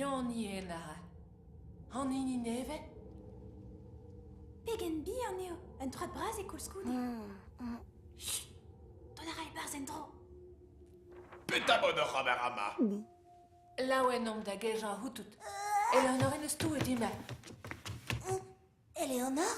Hini Enara. An hini nevez ? Pegen bihan eo un troad bras eo koulskoude. Chut, dont a ra e-barzh en-dro. Petra bod oc'h ober ama? Laouen omp da gejañ c'houtout. Eleonore n'eus touet dimp. Eleonore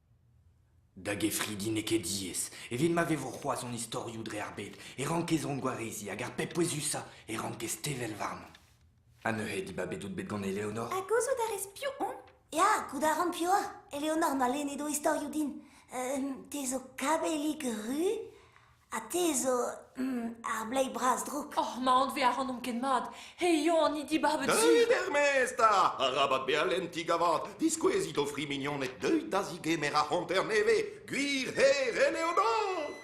Da gefridi n'eo ket diaes. Evit ma vevo c'hoazh hon istorioù dre ar bed e rankez hon gwareziñ hag ar pep pouezusañ e rankez tevel warnomp. Ha neuze dibabet out bet gant Eleonor? Ha gouzout a rez piv on? Ya, goût a ran piv oa. Eleonor ma lennet o istorioù din. Euh, te zo kabellig ru. Ha te zo ar bleiz bras drouk. Oh, ma anve a ran omp ket mat. He eo an dibabet su. Deuit er-maez 'ta! Arabat bezañ lentiñ gavad. Diskouezit o fri mignoned. Deuit da zigemer ar c'hanter nevez. Gwir herrel eo dont!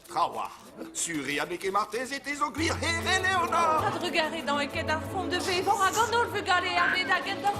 Trawalc'h, Suri ha n'eo ket marteze te zo gwir here, Leonard! Ha drugaret an eket ar font de bevañ hag an holl vugale a bed hag en doa